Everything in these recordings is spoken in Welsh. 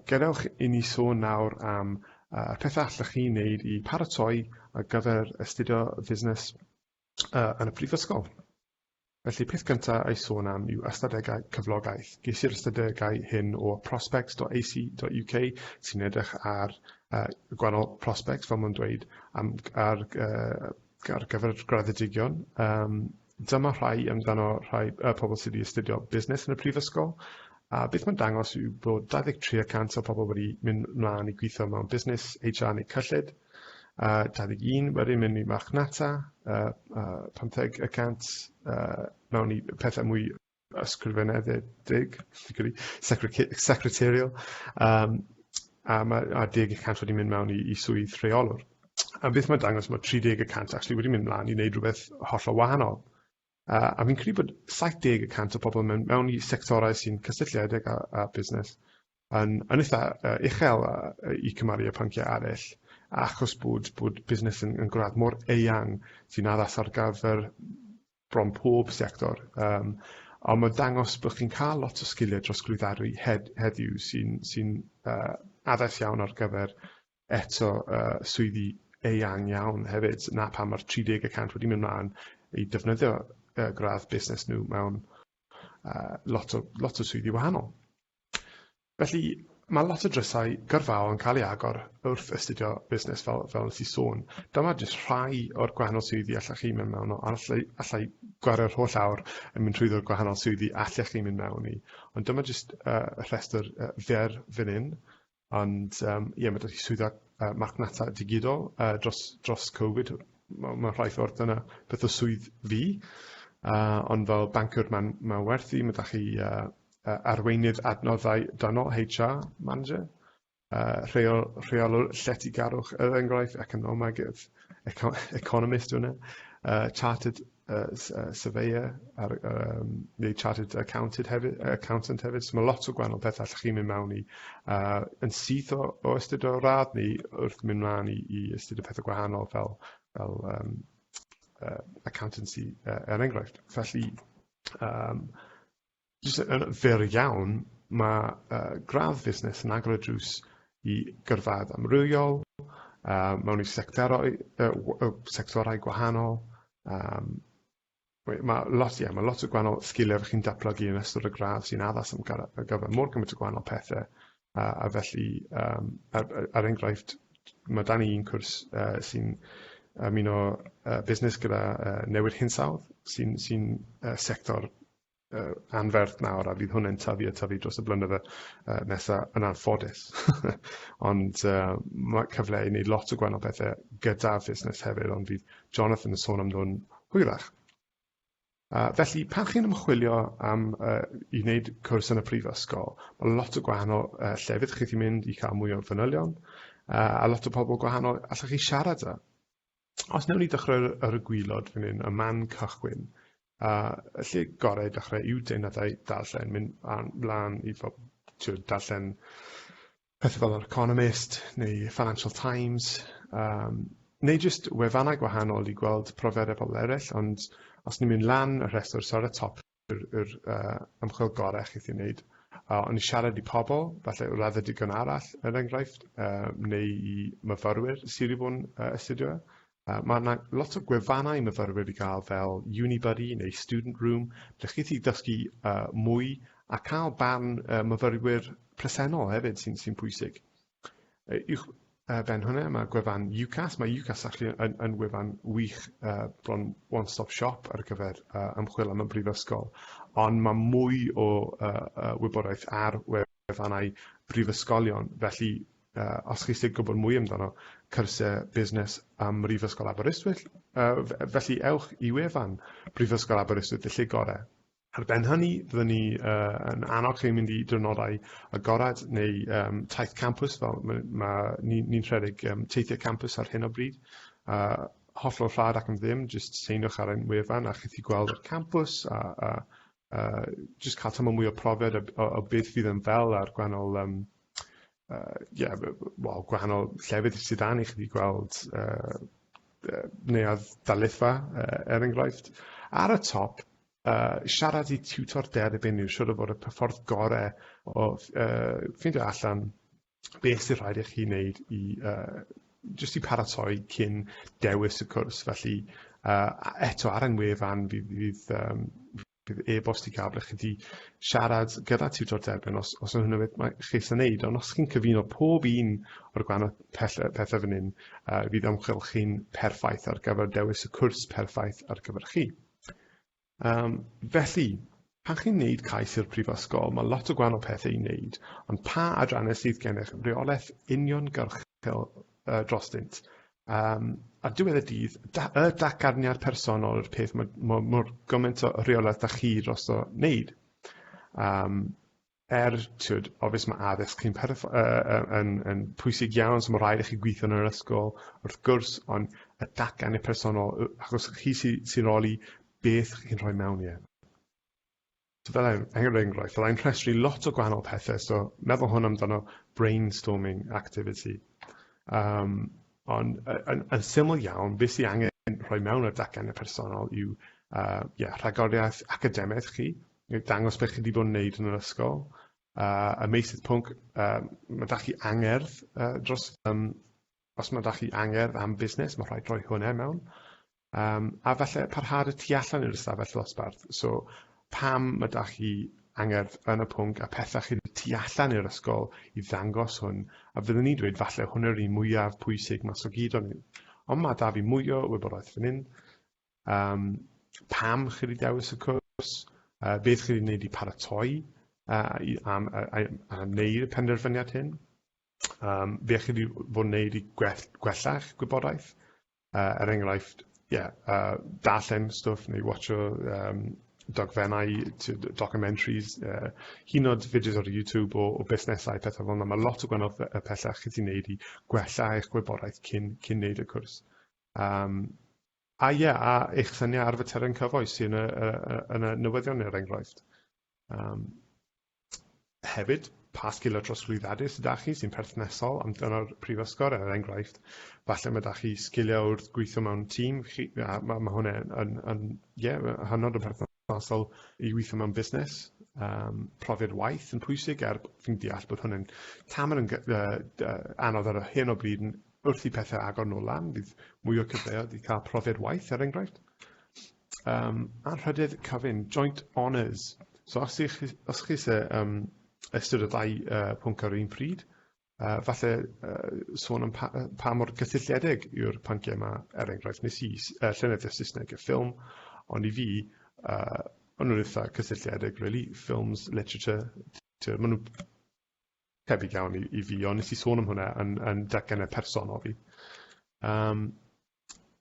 Gadewch i ni sôn nawr am uh, y pethau allwch chi wneud i paratoi ar gyfer astudio fusnes uh, yn y prifysgol. Felly, peth cyntaf a'i sôn am yw ystadegau cyflogaeth. Ges i'r ystadegau hyn o prospects.ac.uk sy'n edrych ar uh, gwahanol prospects, fel mae'n dweud, am, ar, uh, ar gyfer graddedigion. Um, Dyma rhai amdano rhai y pobl sydd wedi astudio busnes yn y prifysgol, a beth mae'n dangos yw bod 23 y cant o pobl wedi mynd mlaen i gweithio mewn busnes, HR neu cyllid, a 21 wedi mynd i marchnata, uh, uh, 50 y cant uh, mewn i pethau mwy ysgrifenedig, secretarial, um, a mae a deg y cant wedi mynd mewn i, i swydd rheolwr. A beth mae'n dangos, mae 30 y cant actually wedi mynd mlaen i wneud rhywbeth hollol wahanol. Uh, a fi'n credu bod 70 y cant o pobl mewn, mewn i sectorau sy'n cysylltiedig â, â busnes yn, yn eitha uh, uchel uh, i cymaru â pynciau arall achos bod, bod busnes yn, yn gwrdd mor eang sy'n addas ar gyfer bron pob sector yym a ma' dangos bo' chi'n ca'l lot o sgilie drosglwyddaru hed- heddiw sy'n sy'n yy addas iawn ar gyfer eto yy swyddi eang iawn hefyd 'na pam ma'r tri deg y cant wedi myn' mlan i defnyddio yy gradd busnes nw mewn yy lot o lot o swyddi wahanol. Felly, mae lot o drysau gyrfaol yn cael ei agor wrth astudio busnes fel, fel nes i sôn. Dyma jyst rhai o'r gwahanol swyddi allech chi mynd mewn o, allai, allai gwario'r holl awr yn mynd trwyddo'r gwahanol swyddi allech chi mynd mewn i. Ond dyma jyst uh, rhestr uh, fer fan hyn. Ond um, ie, mae dydi swydda uh, marchnata digidol uh, dros, dros Covid, mae ma rhai ffordd dyna beth o swydd fi. Uh, ond fel bancwr mae'n ma werthu, mae da chi uh, uh, arweinydd adnoddau dynol, HR manager, uh, rheol, rheolwr lletygarwch yr enghraifft, economegydd, eco, economist yna, uh, chartered uh, uh, surveyor, ar, um, neu chartered accountant hefyd, accountant hefyd. So mae lot o gwahanol pethau allwch chi'n mynd mewn i uh, yn syth o, o ystod o radd ni wrth mynd mlaen i, i ystod o pethau gwahanol fel, fel um, uh, accountancy uh, er enghraifft. Felly, um, jyst yn fyr iawn, ma' yy gradd fusnes yn agor y drws i gyrfa amrywiol yy mewn i sectorau yy w- yy sectorau gwahanol yym we- ma' lot ie ma' lot o gwahanol sgiliau bo' chi'n datblygu yn ystod y gradd sy'n addas am gara- ar gyfer mor gymaint o gwahanol pethe a a felly yym er yy er enghraifft ma' 'dan ni un cwrs yy sy'n ymuno yy busnes gyda yy newid hinsawdd sy'n sy'n yy sector uh, anferth nawr a fydd hwnna'n tyfu a tyfu dros y blynydde uh, nesaf yn anffodus. ond uh, mae cyfle i wneud lot o gwahanol bethau gyda fusnes hefyd, ond fydd Jonathan yn sôn am nhw'n hwyrach. Uh, felly, pan chi'n ymchwilio am uh, i wneud cwrs yn y prifysgol, mae lot o gwahanol uh, llefydd chi'n mynd i cael mwy o fanylion, uh, a lot o pobl gwahanol allwch chi siarad â. Os newn ni dechrau ar y gwylod fan hyn, y man cychwyn, a y lle gorau i dechrau yw deunadau darllen, mynd mlaen i fod tiw'r darllen pethau fel yr Economist neu Financial Times, um, neu jyst wefannau gwahanol i gweld profiadau pobl eraill, ond os ni'n mynd lan y rhestr, so ar y top, yr, yr uh, ymchwil gorau chi chi'n wneud. Uh, ond i siarad i pobl, falle raddau digon arall, er enghraifft, uh, neu i myfyrwyr sydd wedi bod yn uh, astudio. Uh, mae yna lot o gwefannau myfyrwyr i gael fel Unibuddy neu Student Room, ble chi wedi dysgu uh, mwy a cael barn uh, myfyrwyr presennol hefyd sy'n sy pwysig. Yy uwch yy ben hwnne ma' gwefan UCAS ma' UCAS actually yn yn wefan wych yy bron one stop shop ar gyfer yy ymchwil am y brifysgol on' ma' mwy o yy yy wybodaeth ar wefannau prifysgolion felly yy os chi isie gwbod mwy amdano cyrsie busnes ym Mhrifysgol Aberystwyth yy f- yy felly ewch i wefan Brifysgol Aberystwyth y lle gore. Ar ben hynny, byddwn ni uh, yn annog chi mynd i drynodau agored neu um, taith campus, fel mae, mae ni'n ni rhedeg um, teithiau campus ar hyn o bryd. Uh, hollol rhad ac am ddim, jyst seinwch ar ein wefan a chi'n gweld y campus a, a, a jyst cael tymor mwy o profiad o, o, o beth fydd yn fel a'r gwannol um, uh, yeah, well, gwahanol llefydd sydd dan i chi gweld uh, neuadd darlithfa, uh, er enghraifft. Ar y top, yy siarad i tiwtor derbyn yw siŵr o fod y p- ffordd gore o ff- yy ffindio allan beth sy rhaid i chi wneud i yy jyst i paratoi cyn dewis y cwrs felly yy a- eto ar 'yn wefan fi fydd yym bydd e-bost i ga'l ble chi 'di siarad gyda tiwtor derbyn os os yw hwnna beth mae chi isie neud ond os chi'n cyfuno pob un o'r gwana- pell- yy pethe fyn 'yn yy fydd ymchwil chi'n perffaith ar gyfer dewis y cwrs perffaith ar gyfer chi. Yym, felly, pan chi'n wneud cais i'r Prifysgol, mae lot o gwahanol pethau i wneud, ond pa adrannau sydd gennych reolaeth uniongyrchol uh, drostynt? Um, ar diwedd y dydd, da, y dacarniad personol yw'r peth mae, mae, mae gymaint o reolaeth da chi dros o wneud. Um, er tyd, obvious mae addysg yn, yn, yn pwysig iawn, so mae rhaid i chi gweithio yn yr ysgol, wrth gwrs, ond y datgan y personol, achos chi sy'n sy roli beth chi'n rhoi mewn i e. So fel ein, er enghraifft, fel ein rhestru lot o gwahanol pethau, so meddwl hwn amdano brainstorming activity. Um, ond yn, yn syml iawn, beth sy'n angen rhoi mewn y datgan y personol yw uh, yeah, rhagoriaeth academaidd chi, dangos beth chi 'di bod yn neud yn yr ysgol, a y meysydd pwnc yy ma' 'da chi angerdd yy dros yym os ma' 'da chi angerdd am busnes ma' rhaid rhoi hwnne mewn yym a falle parhad y tu allan i'r ystafell ddosbarth so pam ma' 'da chi angerdd yn y pwnc a petha chi'n y tu allan i'r ysgol i ddangos hwn a fyddwn ni'n dweud falle hwnna yw'r un mwyaf pwysig mas o gyd o'n hyn ond ma' 'da fi mwy o wybodaeth fan 'yn um, pam chi wedi dewis y cwrs, uh, beth chi wedi gwneud i paratoi uh, i, am, a, a, a wneud y penderfyniad hyn, um, beth chi wedi bod yn gwneud i gwell, gwella'ch gwybodaeth, uh, er enghraifft, yeah, uh, darllen stwff neu watcho um, dogfennau, documentaries, uh, hyn oed fideos ar YouTube o, o busnesau, pethau fel yna. Mae lot o gwahanol pethau chi ti'n neud i gwella eich gwybodaeth cyn, cyn neud y cwrs. Yym, a ie, a eich syniau ar faterion cyfoes sy'n y, y, y, yn y newyddion er enghraifft. Um, hefyd, pa sgiliau trosglwyddadau sydd â chi sy'n perthnesol am dyna'r prifysgol er enghraifft. Falle mae da chi sgiliau wrth gweithio mewn tîm, chi, a mae, mae hwnna yn, yn, yn yeah, hynod o perthnesol. hollol i weithio mewn busnes. Um, profiad waith yn pwysig er fi'n deall bod hwn yn taml yn anodd ar hyn o bryd wrth i pethau agor nôl lan, bydd mwy o cyfleoedd i cael profiad waith er enghraifft. Um, a rhydedd cyfyn, joint honours. So os chi, os chi se, um, ystod y ddau uh, pwnc ar un pryd, A falle yy sôn am pa- yy pa mor gysylltiedig yw'r pynciau 'ma, er enghraifft, wnes i s- yy llenyddiaeth Saesneg a ffilm, ond i fi yy o'n nhw'n eitha' cysylltiedig rili, ffilms, literature, t'wo' ma' nw tebyg iawn i i fi, ond nes i sôn am hwnna yn yn datganiad personol fi. Yym.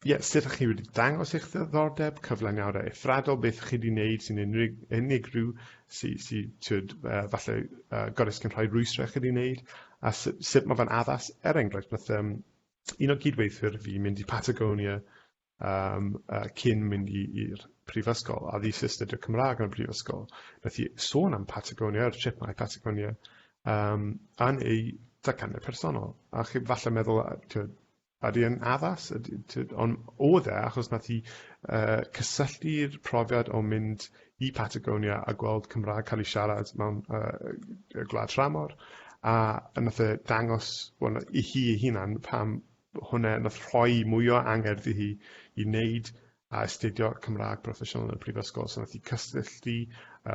Ie, sut ydych chi wedi dangos eich ddiddordeb, cyflaniad a ethradol, beth ydych chi wedi wneud sy'n unig, unigryw, sy'n sy, sy uh, falle uh, gorau sy'n rhoi rwystra chi wedi wneud, a sut, sut mae fe'n addas, er enghraifft, nath um, un o gydweithwyr fi mynd i Patagonia um, uh, cyn mynd i'r prifysgol, a ddi astudio Cymraeg yn y prifysgol. Nath i sôn am Patagonia, yr trip mae Patagonia, um, yn ei dacanau personol. A chi falle meddwl, Ydy e'n addas? Ydy... T- ond oedd e achos wnaeth hi yy cysylltu'r profiad o mynd i Patagonia a gweld Cymraeg cael ei siarad mewn yy yy gwlad tramor a a wnaeth e dangos wel na- i hi ei hunan pam hwnna wnaeth rhoi mwy o angerdd i hi i wneud a astudio Cymraeg broffesiynol yn y prifysgol. So wnaeth hi cysylltu yy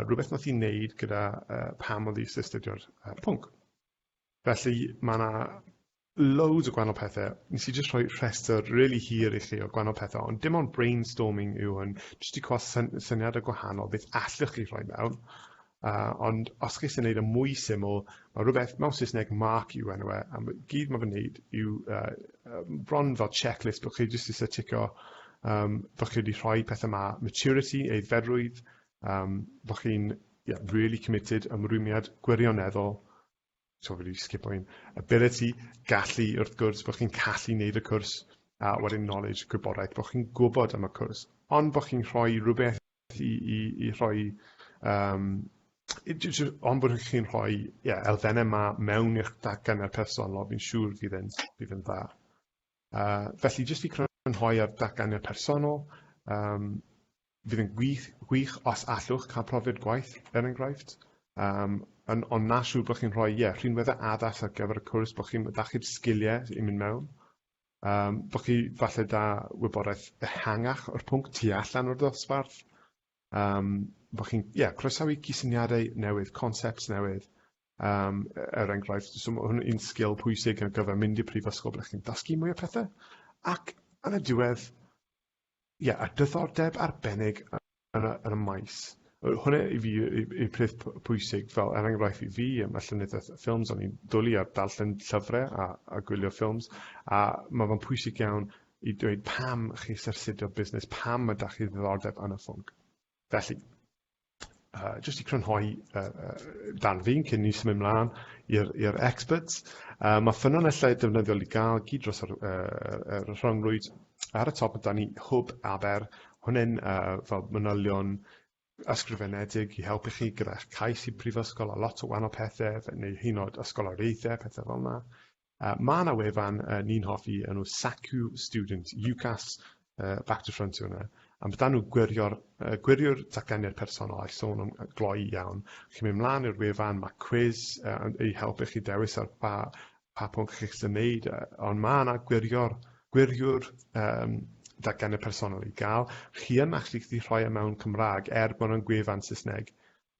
rywbeth wnaeth hi wneud gyda yy pam oedd hi isie astudio'r yy pwnc. Felly mae yna loads o gwahanol pethe. Nes i jyst rhoi rhestr rili hir i chi o gwahanol pethe, ond dim ond brainstorming yw hwn, jyst i cael syn syniadau gwahanol beth allwch chi rhoi mewn. Uh, ond os chi eisiau gwneud y e mwy syml, mae rhywbeth mewn Saesneg mark yw enw e, a gyd mae fy wneud yw uh, bron fel checklist bod chi jyst eisiau ticio um, bod chi wedi rhoi pethau yma, maturity, eiddferrwydd, Um, fo chi'n yeah, really committed, ymrwymiad gwirioneddol, so wedi sgipo un, ability, gallu wrth gwrs, bod chi'n callu wneud y cwrs, a wedyn knowledge, gwybodaeth, bod chi'n gwybod am y cwrs, ond bod chi'n rhoi rhywbeth i, i, i rhoi, um, ond bod chi'n rhoi yeah, elfennau yma mewn i'ch datgan ar personol, fi'n siŵr fydd yn, fydd yn dda. Felly, jyst i crynhoi ar datganiad personol, yym fydd yn gwych gwych os allwch cael profiad gwaith, er enghraifft, yym yn ond na siŵr bod chi'n rhoi ie, rhinweddau addas ar gyfer y cwrs, bod chi'n da chi'r sgiliau i mynd mewn, yym bod chi falle da wybodaeth ehangach o'r pwnc tu allan o'r ddosbarth, yym bod chi'n ie croesawu cysyniadau newydd, concepts newydd, Um, er enghraifft, so mae hwn yn sgil pwysig ar gyfer mynd i prifysgol ble chi'n dysgu mwy o pethau. Ac yn y diwedd, ie, yeah, a dyddordeb arbennig yn y, yn y maes. Hwna i fi yw'r peth pwysig, fel er enghraifft i fi, mae llenyddiaeth ffilms, o'n i'n dwlu ar darllen llyfrau a, a gwylio ffilms, a mae fe'n pwysig iawn i dweud pam chi syrsidio busnes, pam mae da chi ddiddordeb yn y ffwnc. Felly, uh, jyst i crynhoi uh, uh, dan fi'n cyn ni symud mlaen i'r experts. Uh, mae ffynonellau defnyddiol i gael gyd dros yr, uh, yr rhyngrwyd ar y top yda ni hwb aber, hwnne'n uh, fel manylion ysgrifenedig i helpu chi gyda'ch cais i prifysgol a lot o wahanol pethau, neu hyn oed ysgoloriaethau, pethau fel yna. Uh, mae yna wefan uh, ni'n hoffi enw Saku Student, UCAS uh, Back to Front yna. Am bydan nhw gwirio'r, uh, gwirio'r datganiad personol a'i sôn am gloi iawn. Chi'n mynd mlaen i'r wefan, mae quiz uh, ei helpu chi dewis ar ba, pa pwnc chi'n eisiau gwneud, uh, ond mae yna gwirio'r, gwirio'r um, datganiad personol i gael. Chi yn actually gallu rhoi e mewn Cymraeg er bod yna'n gwefan Saesneg.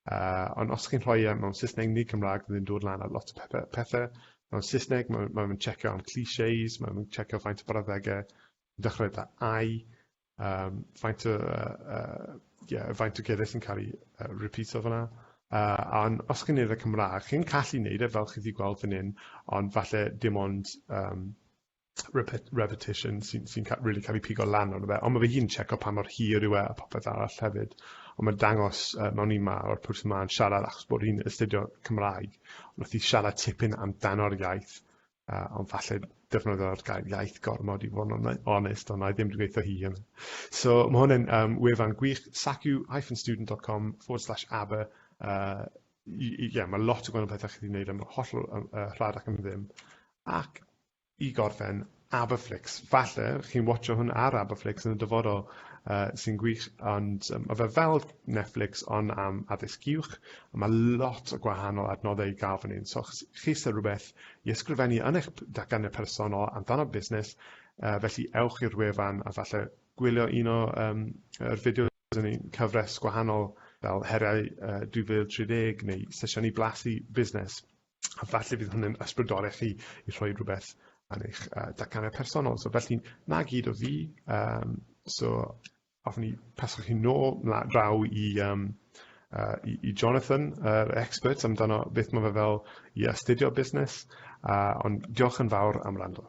Uh, ond os chi'n rhoi e mewn Saesneg neu Cymraeg, bydd yn dod lan ar lot o pethau. Pethe. Mewn Saesneg, mae'n ma ma checio am clichés, mae'n ma checio faint o brawddegau, dechrau da ai, um, faint o, uh, uh, yeah, faint o geiriau sy'n cael ei uh, repeato fyna. Uh, ond os chi'n neud y e Cymraeg, chi'n callu neud e fel chi wedi gweld fan hyn, ond falle dim ond um, repetition sy'n sy really cael ei pigo lan ond fe. Ond mae fy hun checo pa mor hir yw e a popeth arall hefyd. Ond mae'n dangos uh, mewn un ma o'r person ma'n siarad achos bod hi'n astudio Cymraeg. Ond wrth i siarad tipyn amdano'r iaith, uh, ond falle defnyddio'r gair iaith gormod i fod yn onest, ond na i ddim wedi gweithio hi hyn. So mae hwn yn um, wefan gwych, sacu-student.com forward slash aber. Uh, yeah, mae lot o gwahanol pethau chi'n gwneud am holl uh, rhad ac am ddim. Ac i gorffen Aberflix. Falle chi'n watsio hwn ar Aberflix yn y dyfodol, uh, sy'n gwych, ond um, mae fe fel Netflix ond am addysg uwch, a mae lot o gwahanol adnoddau i gael fan hyn. So chi sy'n rhywbeth i ysgrifennu yn eich datganiad personol amdano busnes, uh, felly ewch i'r wefan a falle gwylio un o um, yr fideos yn ein cyfres gwahanol fel heriau uh, 2030 neu sesiynau blasu busnes. a falle bydd hwn yn ysbrydoli chi i rhoi rhywbeth ar eich uh, datganiad personol. So felly, na gyd o fi. Um, so, hoffwn i pasio chi nôl draw i, um, uh, i, i Jonathan, yr uh, expert amdano beth mae fe fel i astudio busnes. Uh, ond diolch yn fawr am rando.